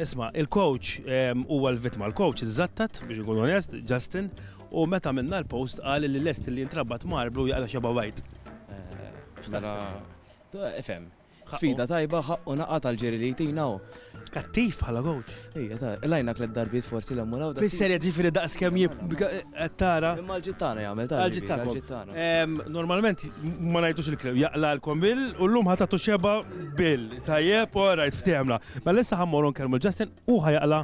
Isma, il-coach ehm, huwa l-vittma. Il-coach iżattat, biex ikun onest, Justin, u meta minna l-post qal li lest li jintrabat marblu jaqla xeba white. Eh, mela, ifhem. Sfida tajba ħaqqu naqa tal-ġiri li jtina u. Kattif bħala coach. Ija, ta' lajna klet darbiet forsi l-emmur għaw. Fil-serja ġifiri daqs kem jittara. Imma l-ġittana jgħamil ta' l-ġittana. Ehm, normalment ma najtux il-klem, jaqla l-kombil u l-lum ħatatu xeba bil. Tajjeb, all right, ftehemna. Mela issa ħammorru nkellmu Justin u ħajaqla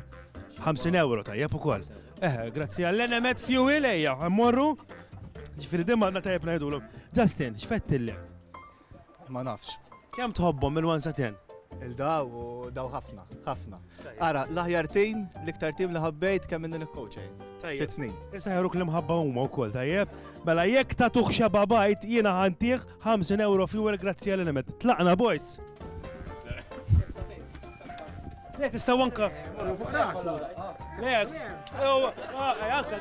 50 euro tajjeb ukoll. Eh, grazzi għall-enemet fuel ejja, ħammorru. Ġifieri dimma għadna tajjeb ngħidulu. Justin, x'fettilli? Ma nafx. Kemm tħobbhom minn 1 sa 10? Il-daw u daw ħafna, ħafna. Ara, l-aħjar tim, l-iktar tim li ħabbejt kemm minn il-coach eh? Sitt snin. Issa ħeruk li mħabba huma wkoll tajjeb. Mela jekk ta' tuħxa babajt jiena ħantih 50 euro fuel grazzi għal nemet. Tlaqna boys. Le tista' wanka. Le, anka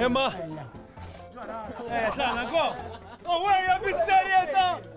Imma. Eh, tlaqna go. Oh, wejja bis-serjetà!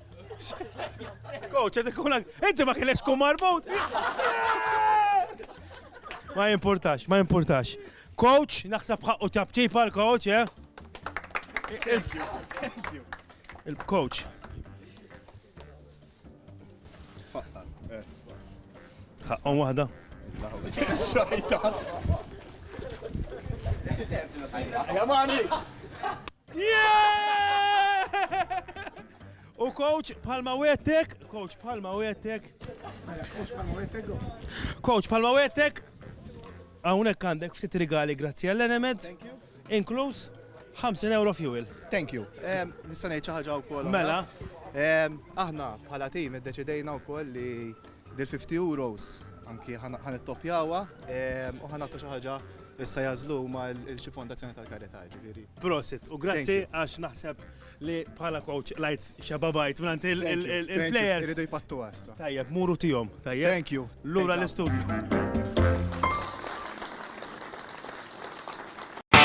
Skoċ, għed ikun inti ma kienx kum marbut. Ma jimportax, ma jimportax. Coach, naħseb ħaqqu tabċip għal coach, eh? Thank you, thank you. Il-coach. Ħaqqom eh. wahda. Xajta. Jamani! U coach palma wettek, coach palma wettek. Coach palma wettek. Hawnhekk għandek ftit rigali grazzi għall-enemed, inkluż 50 euro fuel. Thank you. Nista' ngħid xi ħaġa wkoll. Mela. Aħna bħala tim iddeċidejna wkoll li Dil 50 euros anki ħa nittoppjawha u ħa nagħtu xi ħaġa issa jażlu huma l xi fondazzjoni tal-karità ġifieri. Prosit u grazzi għax naħseb li bħala coach lajt xababajt mingħand il-players. Iridu jpattu għassa. Tajjeb, muru tihom, tajjeb. Thank you. Lura l-istudju.